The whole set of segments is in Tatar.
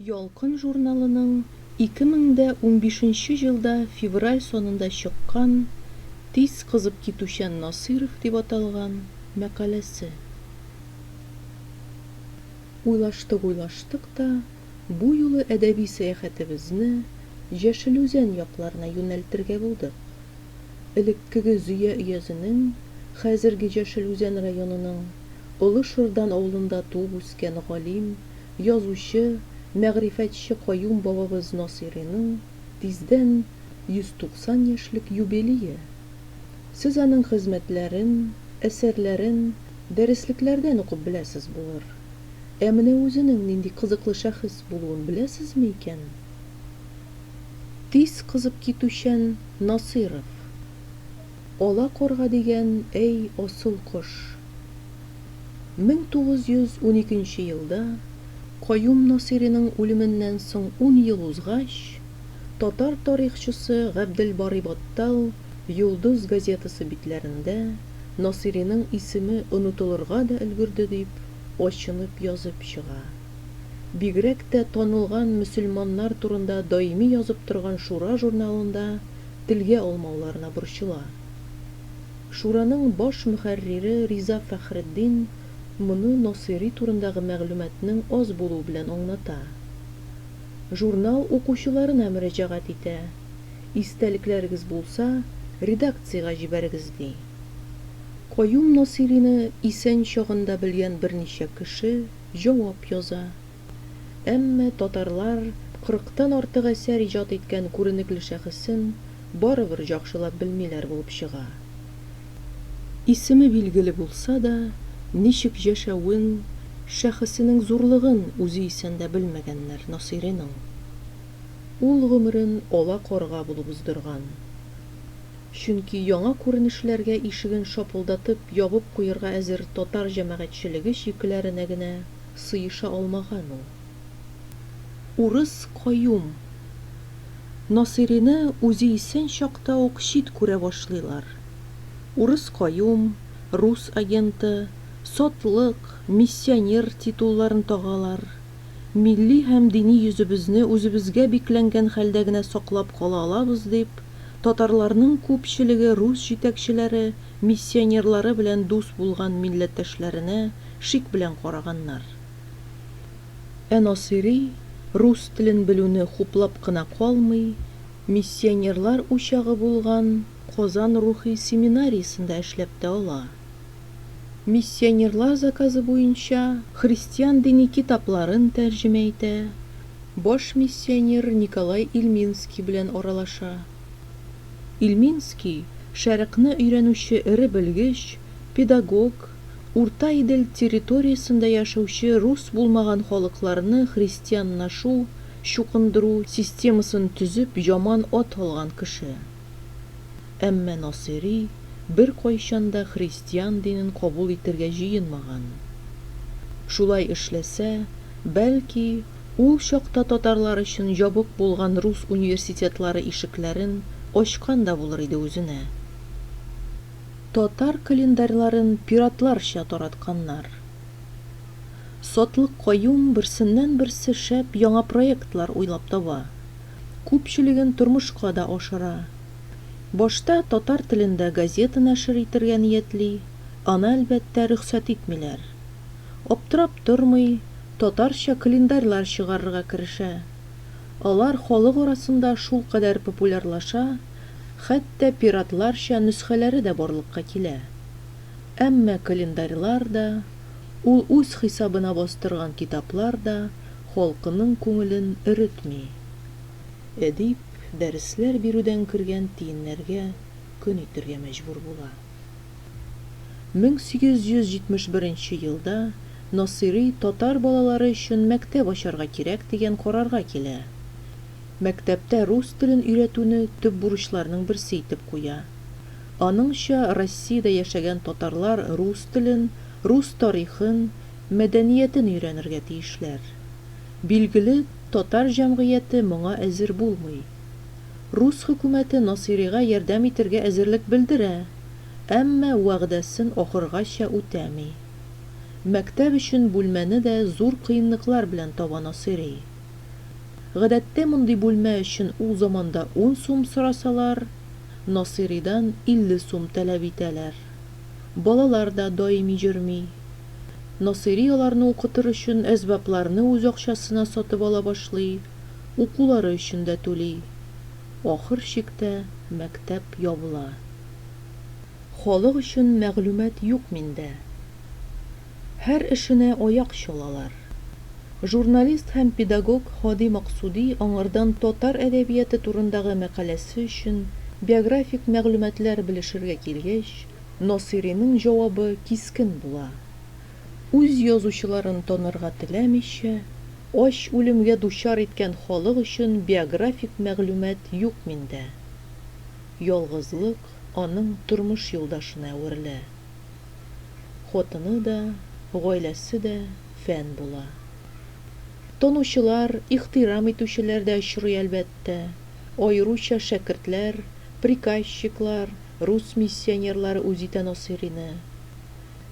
Ялкын журналының 2015 елда февраль санында чыккан Тиз кызып китүчән Насыйров дип аталган мәкаләсе. Уйлаштык-уйлаштык та, бу юлы әдәби сәяхәтебезне Җәшел Үзән якларына юнәлтергә булдык. Элеккеге Зөя өязенең, хәзерге Җәшел Үзән районының Олы Шырдан авылында туып-үскән галим, язучы, мәгърифәтче Каюм бабабыз Насыйриның тиздән 190 яшьлек юбилее. Сез аның хезмәтләрен, әсәрләрен дәреслекләрдән укып беләсез булыр. Ә менә үзенең нинди кызыклы шәхес булуын беләсезме икән? Тиз кызып китүчән Насыйров. Ала карга дигән, әй, асыл кош. Мең тугыз йөз уникенче елда, Каюм Насыйриның үлеменнән соң ун ел узгач, татар тарихчысы Габделбарый Баттал Йолдыз газетасы битләрендә Насыйриның исеме онытылырга да өлгерде дип, ачынып язып чыга. Бигрәк тә танылган мөселманнар турында даими язып торган Шура журналында телгә алмауларына борчыла. Шураның баш мөхәррире Риза Фәхретдин моны Насыйри турындагы мәгълүматның аз булуы белән аңлата. Журнал укучыларына мөрәҗәгать итә, истәлекләрегез булса, редакциягә җибәрегез, ди. Каюм Насыйрины исән чагында белгән берничә кеше җавап яза. Әмма татарлар 40 тан артык әсәр иҗат иткән күренекле шәхесен барыбер җакшылап белмиләр булып чыга. Исеме билгеле булса да, ничек җәшәвен, шәхесенең зурлыгын үзе исән дә белмәгәннәр Насыйриның. Ул гомерен ала карга булып уздырган. Чөнки яңа күренешләргә ишеген шапылдатып ябып куерга әзер татар җәмәгатьчелеге чикләренә генә сыеша алмаган ул. Урыс каюм. Насыйрины үзе исән чакта ук чит күрә башлыйлар. Урыс каюм, рус агенты, сатлык, миссионер титулларын тагалар. Милли һәм дини йөзебезне үзебезгә бикләнгән хәлдә генә саклап кала алабыз дип, Татарларның күпчелеге рус җитәкчеләре, миссионерлары белән дус булган милләттәшләренә шик белән караганнар. Ә Насыйри рус телен белүне хуплап кына калмый, миссионерлар учагы булган Казан рухи семинариясендә эшләп тә ала. Миссионерлар заказы буенча христиан дини китапларын тәрҗемә итә, баш миссионер Николай Ильминский белән аралаша. Ильминский, Шәрыкъны өйрәнүче эре белгеч, педагог, Урта Идел территориясендә яшәүче рус булмаган халыкларны христианнашу, чукындыру, системасын төзеп яман ат алган кеше. Әмма Насыйри беркайчан да христиан динен кабул итергә җыенмаган. Шулай эшләсә, бәлки, ул чакта татарлар өчен ябык булган рус университетлары ишекләрен ачкан да булыр иде үзенә. Татар календарьларын пиратларча таратканнар. Сатлыкъаюм берсеннән-берсе шәп яңа проектлар уйлап таба. күпчелеген тормышка да ашыра. Башта татар телендә газета нәшер итергә ниятли, аны, әлбәттә, рөхсәт итмиләр. Аптырап тормый, татарча календарьлар чыгарырга керешә. Алар халык арасында шулкадәр популярлаша, хәтта пиратларча нөсхәләре дә барлыкка килә. Әмма календарьлар да. Ул үз хисабына бастырган китаплар да халкының күңелен өретми. Әдип дәресләр бирүдән кергән тиеннәргә көн итәргә мәҗбүр була. 1871 нче елда Насыйри татар балалары өчен мәктәп ачарга кирәк дигән карарга килә. Мәктәптә рус телен өйрәтүне төп бурычларның берсе итеп куя. Аныңча, Россиядә яшәгән татарлар рус телен, рус тарихын, мәдәниятен өйрәнергә тиешләр. Билгеле, татар җәмгыяте моңа әзер булмый. Рус хөкүмәте Насыйрига ярдәм итергә әзерлек белдерә, әмма вәгъдәсен ахыргача үтәми. Мәктәп өчен бүлмәне дә зур кыенлыклар белән таба Насыйри. Гадәттә мондый бүлмә өчен ул заманда ун сум сорасалар, Насыйридан 50 сум таләп итәләр. Балалар да даими йөрми. Насыйри аларны укытыр өчен әсбапларны үз акчасына сатып ала башлый, укулары өчен дә түли. Ахыр чиктә мәктәп ябыла. Халык өчен мәгълүмат юк миндә. Һәр эшенә аяк чалалар. Журналист һәм педагог Һади Максуди аңардан татар әдәбияты турындагы мәкаләсе өчен биографик мәгълүматлар белешергә килгәч, Насыйриның җавабы кискен була, үз язучыларын танырга теләмичә, ач үлемгә дучар иткән халык өчен биографик мәгълүмат юк миндә. Ялгызлык аның тормыш юлдашына әверелә. Хатыны да, гаиләсе дә фән була. Танучылар, ихтирам итүчеләр дә очрый, әлбәттә. Аеруча шәкертләр, приказчиклар, рус миссионерлары үзитә Насыйрине.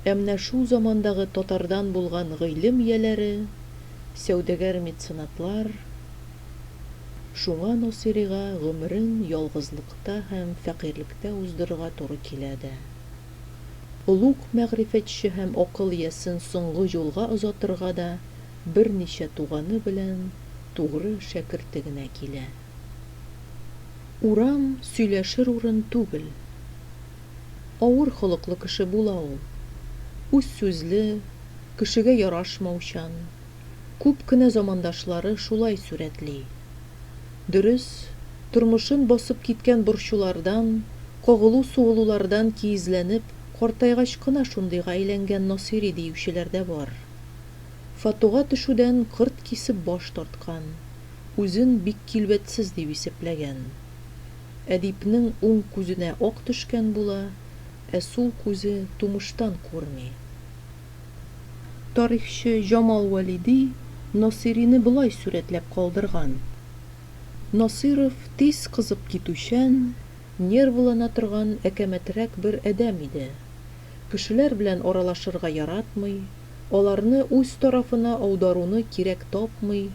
Ә менә шул замандагы татардан булган гыйлем ияләре, сәүдәгәр-меценатлар Шуңа Насыйрига гомерен ялгызлыкта һәм фәкыйрьлектә уздырырга туры килә дә. Олуг мәгърифәтче һәм акыл иясен соңгы юлга озатырга да берничә туганы белән тугры шәкерте генә килә. Урам сөйләшер урын түгел. Авыр холыклы кеше була ул. Үзсүзле, кешегә ярашмаучан. күп кенә замандашлары шулай сурәтли. Дөрес, тормышын басып киткән борчулардан, кагылу-сугылулардан киезләнеп, картайгач кына шундыйга әйләнгән Насыйри диючеләр дә бар. Фатуга төшүдән кырт кисеп баш тарткан, үзен бик килбәтсез дип исәпләгән. Әдипнең уң күзенә ак төшкән була, ә сул күзе тумыштан күрми. Тарихчы Җамал Вәлиди Насыйрине болай сурәтләп калдырган, Насыйров тиз кызып китүчән, нервылана торган әкәмәтрәк бер адәм иде. Кешеләр белән аралашырга яратмый, аларны үз тарафына аударуны кирәк тапмый,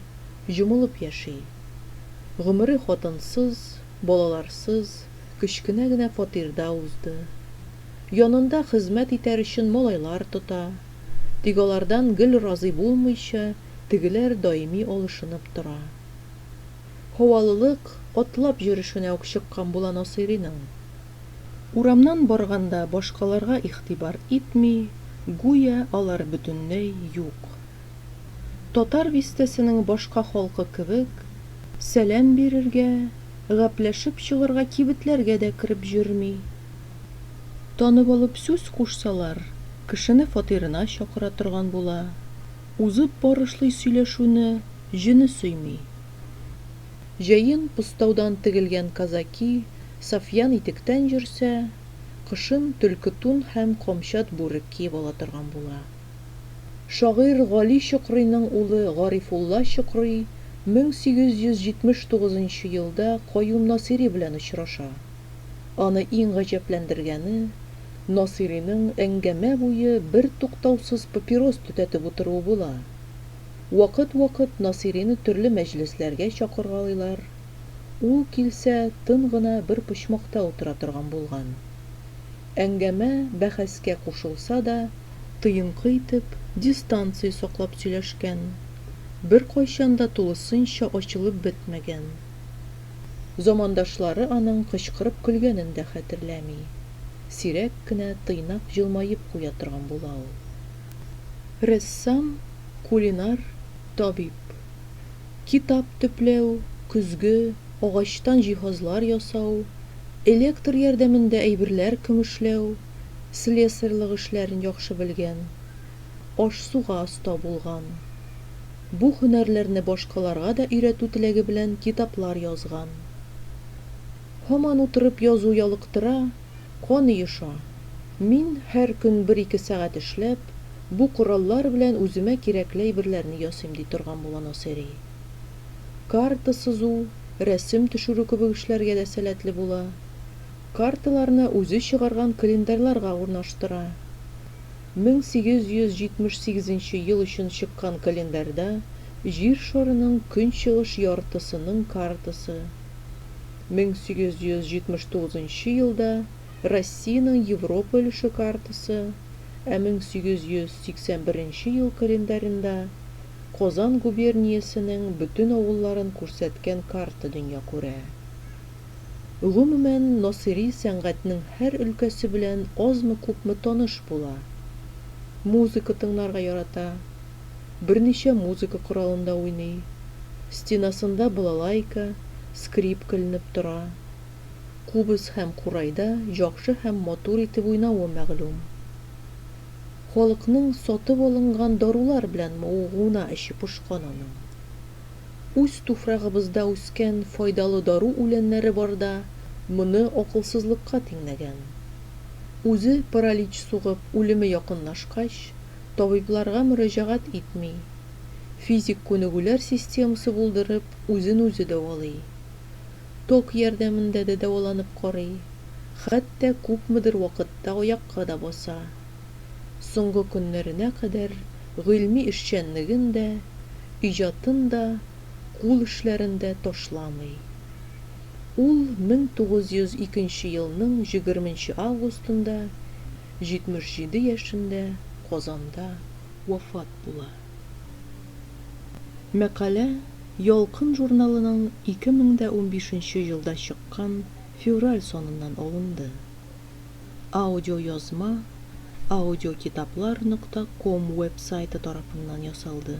җомылып яши. Гомере хатынсыз, балаларсыз, кечкенә генә фатирда узды. янында хезмәт итәр өчен малайлар тота. Тик алардан гел разый булмыйча, тегеләр даими алышынып тора. Һавалылык, атлап йөрешенә үк чыккан була Насыйриның. Урамнан барганда башкаларга игътибар итми, гүя алар бөтенләй юк. Татар бистәсенең башка халкы кебек, сәлам бирергә, гапләшеп чыгарга кибетләргә дә кереп йөрми. Танып алып сүз кушсалар, кешене фатирына чакыра торган була, узып барышлый сөйләшүне җене сөйми. Җәен постаудан тегелгән казаки сафьян итектән йөрсә, кышын төлке тун һәм камчат бүрек киеп ала торган була. Шагыйрь Гали Чокрыйның улы Гарифулла Чокрый 1879 елда Каюм Насыйри белән очраша. Аны иң гаҗәпләндергәне, Насыйриның әңгәмә буе бертуктаусыз папирос төтәтеп утыруы була. Вакыт-вакыт Насыйрины төрле мәҗлесләргә чакыргалыйлар, ул килсә, тын гына бер почмакта утыра торган булган. Әңгәмә бәхәскә кушылса да, тыенкы итеп, дистанция саклап сөйләшкән, беркайчан да тулысынча ачылып бетмәгән Замандашлары аның кычкырып көлгәнен дә хәтерләми. Сирәк кенә тыйнак җылмаеп куя торган була ул. Рәссам, кулинар, табиб. Китап төпләү, көзге, агачтан җиһазлар ясау, электр ярдәмендә әйберләр көмешләү, слесарьлык эшләрен яхшы белгән. Аш-суга оста булган. Бу һөнәрләрне башкаларга да өйрәтү теләге белән китаплар язган. Һаман утырып язу ялыктыра, кан оеша. Мин, һәр көн бер-ике сәгать эшләп, бу кораллар белән үземә кирәкле әйберләрне ясыйм, ди торган була Насыйри. Карта сызу, рәсем төшерү кебек эшләргә дә сәләтле була. Карталарны үзе чыгарган календарьларга урнаштыра. 1878 нче ел өчен чыккан календарьда Җир шарының көнчыгыш яртысының картасы, 1879 нчы елда Россиянең Европа өлеше картасы, ә 1881 нче ел календаренда Казан губерниясенең бөтен авылларын күрсәткән карта дөнья күрә. Гомумән, Насыйри сәнгатьнең һәр өлкәсе белән азмы-күпме таныш була. Музыка тыңларга ярата, берничә музыка коралында уйный, стенасында балалайка, скрипка эленеп тора. Кубыз һәм курайда яхшы һәм матур итеп уйнавы мәгълүм. Халыкның сатып алынган дарулар белән мавыгуына эче пошкан аның. Үз туфрагыбызда үскән файдалы дару үләннәре барда моны акылсызлыкка тиңнәгән. Үзе паралич сугып үлеме якынлашкач, табибларга мөрәҗәгать итми, физик күнегүләр системасы булдырып үзен үзе дәвалый. Ток ярдәмендә дә дәваланып карый, хәтта күпмедер вакытта аякка да баса. Соңгы көннәренә кадәр Гыйльми эшчәнлеген дә, иҗатын да, кул эшләрен дә ташламый. Ул 1902 нче елның җегерменче августында, 77 яшендә Казанда вафат була. Мәкалә Ялкын журналының 2015 нче елда чыккан февраль саныннан алынды. Аудиоязма Аудиокитаплар нокта ком веб-сайты тарафыннан ясалды.